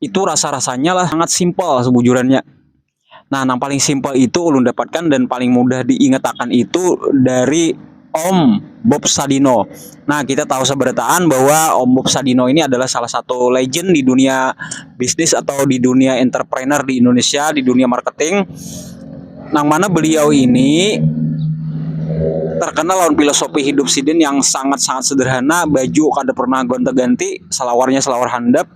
itu rasa-rasanya lah sangat simpel sebujurannya. Nah, yang paling simpel itu ulun dapatkan dan paling mudah diingatakan itu dari Om Bob Sadino. Nah, kita tahu seberataan bahwa Om Bob Sadino ini adalah salah satu legend di dunia bisnis atau di dunia entrepreneur di Indonesia, di dunia marketing. Nang mana beliau ini terkenal lawan filosofi hidup sidin yang sangat-sangat sederhana, baju kada pernah gonta-ganti, salawarnya salawar handap,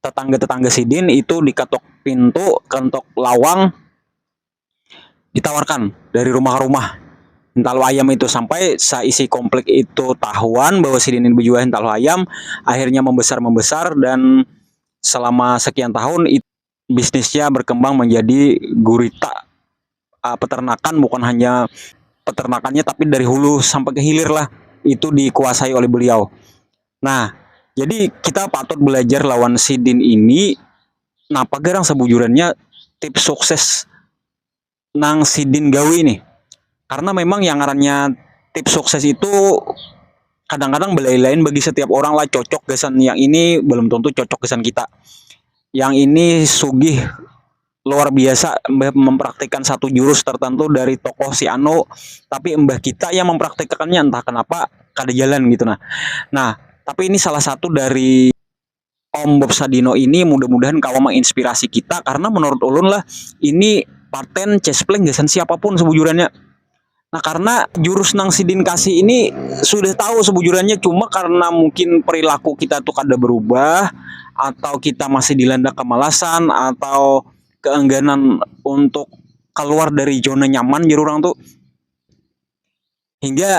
Tetangga-tetangga sidin itu dikatok pintu, kentok lawang, ditawarkan dari rumah-rumah hintalu ayam itu. Sampai saisi komplek itu tahuan bahwa sidin ini bejual hintalu ayam, akhirnya membesar-membesar dan selama sekian tahun bisnisnya berkembang menjadi gurita. uh, peternakan bukan hanya peternakannya tapi dari hulu sampai ke hilir lah itu dikuasai oleh beliau. Nah, jadi kita patut belajar lawan sidin ini napa garang sebujurannya tips sukses nang sidin gawi ini. Karena memang yang ngarannya tips sukses itu kadang-kadang belain-lain bagi setiap orang lah cocok gasan yang ini belum tentu cocok gasan kita. Yang ini sugih luar biasa mbah mempraktikan satu jurus tertentu dari tokoh si Anu tapi mbah kita yang mempraktikannya entah kenapa kada jalan gitu nah nah tapi ini salah satu dari Om Bob Sadino ini mudah-mudahan kawa menginspirasi kita karena menurut ulun lah ini paten cespleng gasan siapapun sebujurannya Nah karena jurus nang sidin kasih ini sudah tahu sebujurannya cuma karena mungkin perilaku kita tuh kada berubah atau kita masih dilanda kemalasan atau keengganan untuk keluar dari zona nyaman jar urang tuh hingga.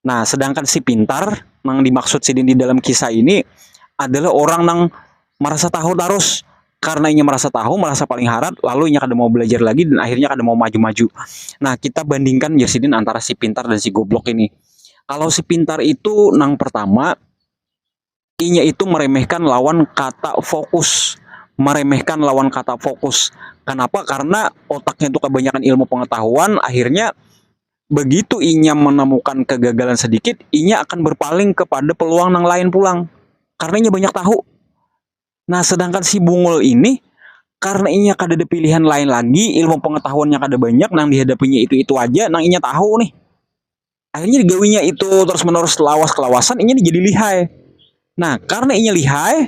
Nah, sedangkan si pintar nang dimaksud sidin di dalam kisah ini adalah orang nang merasa tahu terus karena inya merasa tahu, merasa paling harat, lalu inya kada mau belajar lagi dan akhirnya kada mau maju-maju. Nah, kita bandingkan ya sidin antara si pintar dan si goblok ini. Kalau si pintar itu nang pertama inya itu meremehkan lawan kata fokus meremehkan lawan kata fokus kenapa karena otaknya itu kebanyakan ilmu pengetahuan akhirnya begitu inya menemukan kegagalan sedikit inya akan berpaling kepada peluang yang lain pulang karena inya banyak tahu nah sedangkan si bungul ini karena inya kada ada pilihan lain lagi ilmu pengetahuannya kada banyak nang dihadapinya itu itu aja nang inya tahu nih akhirnya digawinya itu terus menerus lawas kelawasan ini jadi lihai nah karena ini lihai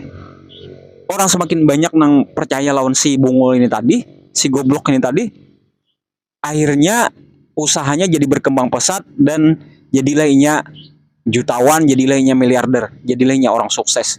orang semakin banyak nang percaya lawan si bungul ini tadi si goblok ini tadi akhirnya usahanya jadi berkembang pesat dan jadilah inya jutawan jadilah inya miliarder jadilah inya orang sukses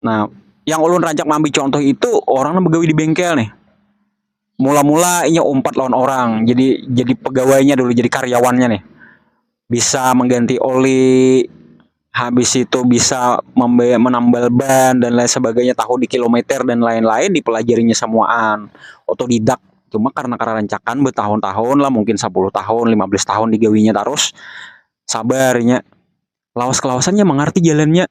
Nah, yang ulun rancak mambi contoh itu orang yang begawi di bengkel nih. Mula-mula inya umpat lawan orang, jadi jadi pegawainya dulu, jadi karyawannya nih. Bisa mengganti oli, habis itu bisa membayar menambal ban dan lain sebagainya tahu di kilometer dan lain-lain dipelajarinya semuaan otodidak cuma karena kerarancakan bertahun-tahun lah mungkin 10 tahun 15 tahun digawinya terus sabarnya lawas kelawasannya mengerti jalannya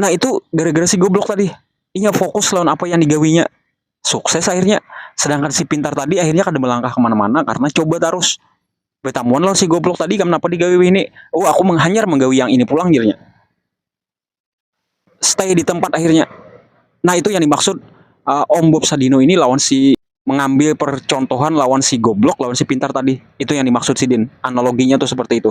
Nah itu gara-gara si goblok tadi. Inya fokus lawan apa yang digawinya. Sukses akhirnya. Sedangkan si pintar tadi akhirnya kada melangkah kemana-mana karena coba terus. Betamuan lawan si goblok tadi kenapa digawi ini. Oh aku menghanyar menggawi yang ini pulang jirnya. Stay di tempat akhirnya. Nah itu yang dimaksud uh, Om Bob Sadino ini lawan si mengambil percontohan lawan si goblok lawan si pintar tadi. Itu yang dimaksud si Din. Analoginya tuh seperti itu.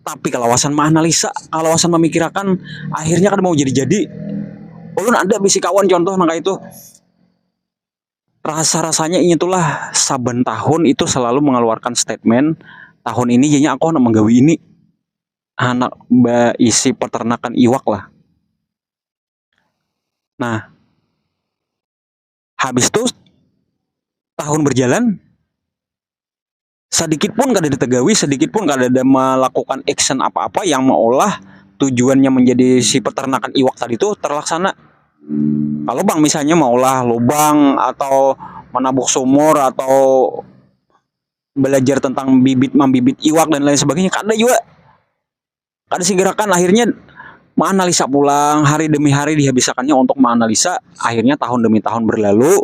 tapi kalawasan maanalisa kalawasan mamikirakan akhirnya kada mau jadi-jadi ulun ada bisi kawan contoh nang itu rasa-rasanya inya itulah saban tahun itu selalu mengeluarkan statement tahun ini jadinya aku anak menggawi ini anak baisi peternakan iwak lah nah habis tu tahun berjalan. sedikit pun kada ditegawi, sedikit pun kada ada melakukan action apa-apa yang meolah tujuannya menjadi si peternakan iwak tadi itu terlaksana. Kalau bang misalnya meolah lubang atau menabuk sumur atau belajar tentang bibit membibit iwak dan lain sebagainya kada juga. Kada sigerakan akhirnya maanalisa pulang hari demi hari dihabisakannya untuk maanalisa akhirnya tahun demi tahun berlalu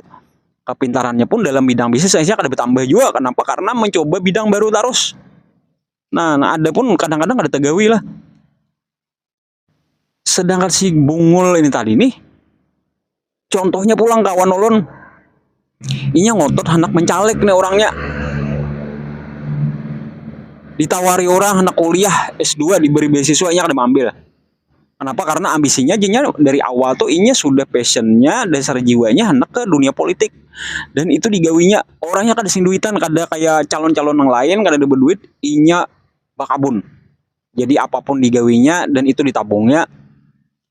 kapintarannya pun dalam bidang bisnis akhirnya kada batambah jua kanapa karna mancoba bidang baru tarus nah nang ada pun kadang-kadang kada tagawi lah sedangkan si bungul ini tadi nih Contohnya pulang kawan ulun. Inya ngotot hendak mencalek nih orangnya. Ditawari orang hendak kuliah S2 diberi beasiswa inya kada mengambil. Kenapa? Karena ambisinya jinya dari awal tuh inya sudah passionnya dasar jiwanya hendak ke dunia politik dan itu digawinya orangnya kada sing duitan kada kayak calon-calon yang lain kada ada berduit inya bakabun jadi apapun digawinya dan itu ditabungnya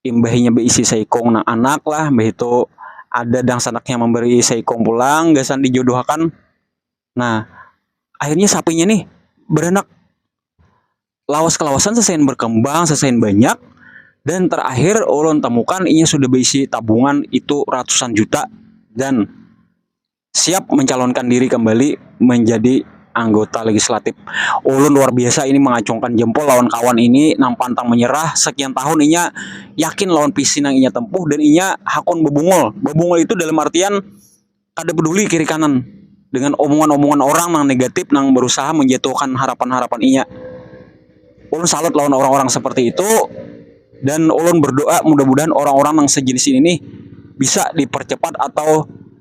imbah inya baisi saikung nang anak lah mbah itu ada dangsanak yang memberi saikung pulang gasan dijodohakan nah akhirnya sapinya nih beranak lawas kelawasan sasain berkembang sasain banyak dan terakhir ulun temukan inya sudah baisi tabungan itu ratusan juta dan siap mencalonkan diri kembali menjadi anggota legislatif. Ulun luar biasa ini mengacungkan jempol lawan kawan ini nang pantang menyerah, sekian tahun inya yakin lawan visi nang inya tempuh dan inya hakun bebungul, bebungul itu dalam artian kada peduli kiri kanan dengan omongan-omongan orang nang negatif nang berusaha menjatuhkan harapan-harapan inya. Ulun salut lawan orang-orang seperti itu dan ulun berdoa mudah-mudahan orang-orang nang sejenis ini nih bisa dipercepat atau